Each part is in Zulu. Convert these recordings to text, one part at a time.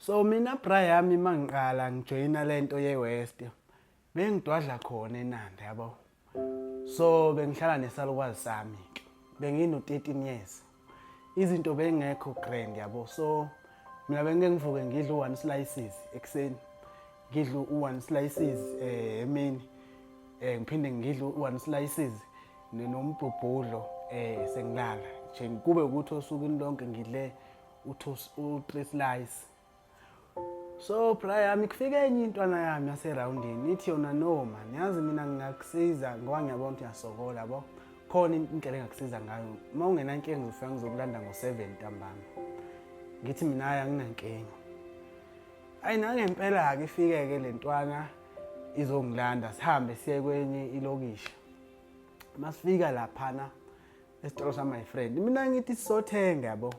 So mina bra yami mangiqala ngijoyina lento ye West bengidwadla khona eNanda yabo. So bengihlala nesalukwazi sami ke. Bengino 13 years. Izinto bengekho grand yabo. So mina bengeke ngivuke ngidle one slices ekseni. Ngidle one slices eh emini. Eh ngiphinde ngidle one slices nenombhubhudlo eh sengilala. Nje kube ukuthi osukwini lonke ngidle u-three slice so bra yami kufike enye intwana yami yaserawundini ithi yona no man yazi mina ngingakusiza ngoba ngiyabona ukuthi uyasokola bo khona indlela engakusiza ngayo uma ungenankinga ngizofika ngizokulanda ngo-seven ntambama ngithi mina ayi anginankinga ayi nangempela-ke ifike-ke le ntwana izongilanda sihambe siye kwenye ilokishi masifika laphana esitolo sa my friend mina ngithi sothenga yabo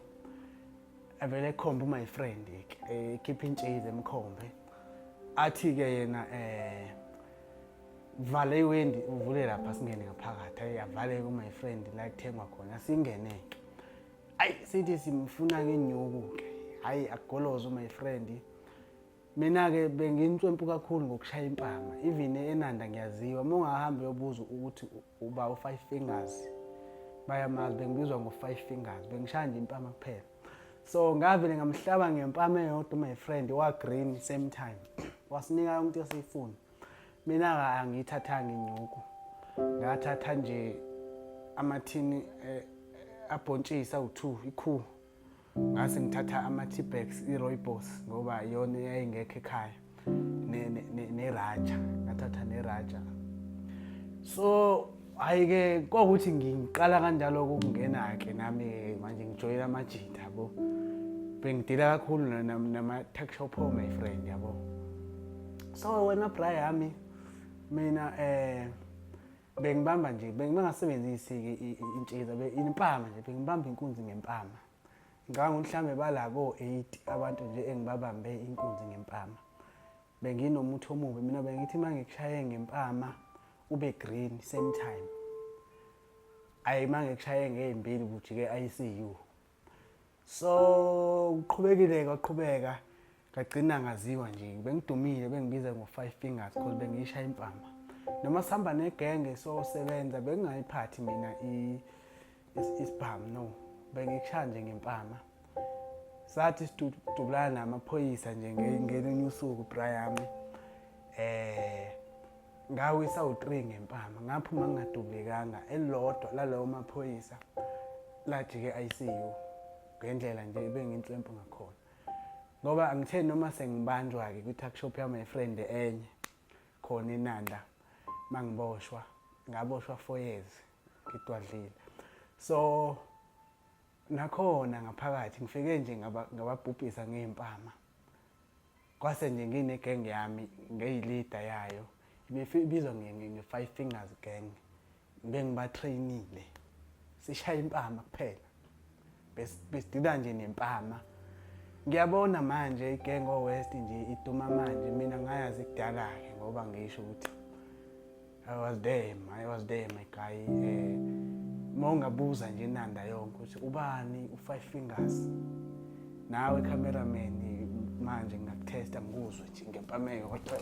avele ekhombe my friend ekhipha eh, intshize emkhombe athi ke yena eh vale iwendi uvule lapha singene ngaphakathi ayi avale ku my friend la kuthengwa khona singene ke ayi sithi simfuna ngenyuku ke hayi agolozo my friend mina ke bengintswempu kakhulu ngokushaya impama even enanda ngiyaziwa uma ungahambi uyobuza ukuthi uba u-five fingers bayamazi bengibizwa ngo-five fingers bengishaya nje impama kuphela so ngavele ngamhlaba ngempama eyodwa my friend wa-green same time wasinika yonke into esiyifuna mina-ke angiyithathanga inyuku ngathatha nje amathini eh, abhontshisa u-two ikhuhu ngase ngithatha ama-tbax i-roybos ngoba iyona eyayingekho ekhaya neraja ngathatha neraja so hhayi-ke kwakuthi ngiqala kanjalo ukungena-ke nami-ke manje ngijoyela amajita yabo bengidila kakhulu nama-tuck shop o my friend yabo so wena bra yami mina um bengibamba nje bengingasebenzisi-ke intshiza impama nje bengibamba inkunzi ngempama ngicabanga ukuthi mhlawumbe bala ko-eight abantu nje engibabambe inkunzi ngempama benginomuthi omubi mina bengithi uma ngikushaye ngempama ube green same time ayi uma ngikushaye ngey'mbili kujike i-icu so uqhubekile kwaqhubeka ngagcina ngaziwa nje bengidumile bengibiza ngo-five fingers cause bengiyisha impama noma sihamba negenge sosebenza bengingayiphathi mina isibhamu no bengikushaya nje ngempama sathi sidubulana namaphoyisa nje ngelinye usuku bra yami um eh, ngawisa u-3 ngempama ngaphuma ngingadubulekanga elilodwa lalawo maphoyisa lajike ICU ngendlela nje ebenginhlwempu ngakhona ngoba angithe noma sengibanjwa-ke kwi-tuck shop yami yefriend enye khona enanda uma ngiboshwa ngaboshwa four years ngidwadlile so nakhona ngaphakathi ngifike nje ngababhubhisa ngey'mpama kwase nje nginegenge yami ngeyilida yayo ibizwa nge-five fingers gang bengibatrainile sishaya impama kuphela besidila nje nempama ngiyabona manje igenge owest nje iduma manje mina ngayazi kudala-ke ngoba ngisho ukuthi I was there, I was there my guy. Eh uma ungabuza nje inanda yonke ukuthi ubani u-five fingers nawe cameraman manje ngingakutesta ngikuzwe nje ngempameko